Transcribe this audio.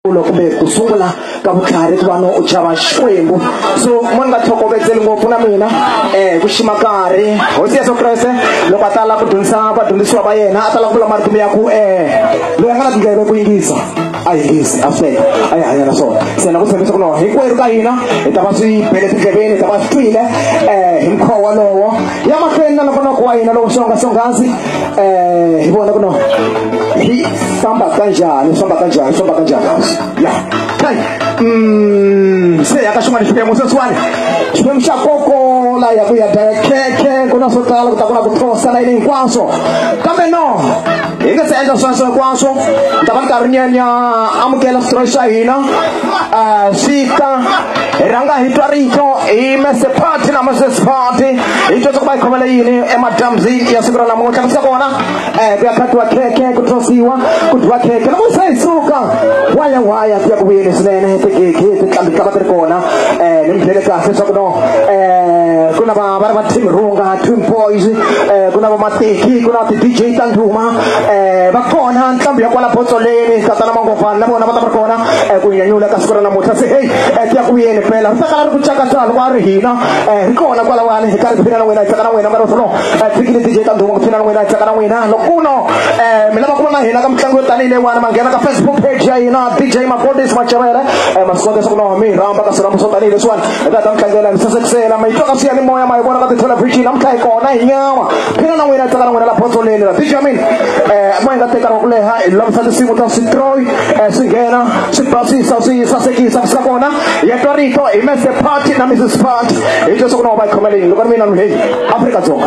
ulo kumbe ku sungula ka vutlhari ku va no u chava xikwembu so mo ni nga tlhokovetseli ngopfu na mina um ku xima karhi hosi yesu kreste loko a tala ku dyondzisa vadyondzisiwa va yena a tala ku vula marito ya ku um loyi a nga na tindleve ku yingisa a yingisi a fela a yi hanya na swona se na ku tshembisa ku loko hinkwerhu ka hina hi ta va swi bele tindleveni hi ta va swi twile um hi mukhuva wolowo ya mahlweni na nokonoko wa hina lowu swongasonghasi eh hi vona ku no hi famba kanjhani hi famba kanjhani hi famba kanjhani ya kai mm se ya ka xin'wana xiphemu sweswiwani xiphemu xa kokola ya ku ya daya khekhe ku na swo tala ku ta ku na ku thosa layini hinkwaswo kambe no hi nga se endla sweswo hinkwaswo ni ta va ni karhi ni ya ni ya amukela switori xa hina um swi ta hi rhanga hi twa rito hi mese party na moses party hi dyondza ku va hi khomele yini emadyambyini ya siku ra namuntlha ku sa kona um ku ya khatiwa khekhe ku tsosiwa ku dyiwa khekhe loko se hi suka waya waya ku ya ku vuyeni swinene tigigi titlambi ti lava ti ri kona um ni mi byele kahle leswaku no um ku na va va ri va team runga team boys um ku na va mateki ku na ti-d j ta ndhuma um va kona ntlambi ya kwala botsoleni tatana mangovani na vona va ta va ri kona um ku nyanyula ka siku ra namuntlha se heyi um ti ya ku vuyeni phela ri ta kala ri ku cakacala loko a ri hina eh hi kona kwala wani hi karhi phina na wena hi tsaka na wena mara sono eh fikile DJ ta ndhuma ku phina na wena hi tsaka na wena loko no eh mina va kuma na hina ka mitlangu yo tanihi leyiwani ma nghena ka Facebook page ya hina DJ Mafodis Macherere eh ma swi kota ku no mi rhamba ka sirhambo swo tanihi leswiwani hi ta ta mitlangela mi sasekisela ma yi twa ka swi ya ni moya ma yi vona ka tithelevhixini namuntlha hi kona hi nyama phina na wena hi tsaka na wena la botsoleni la DJ Amin eh ma hi nga tekana ku leha hi lovisa tinsimu ta switroy eh swi nghena swi basisa swi sasekisa swi ka kona ya twa rito hi mese party na mrs party hi leswaku na va yi khomela yini loko ri mina ni heyi afrika dzonga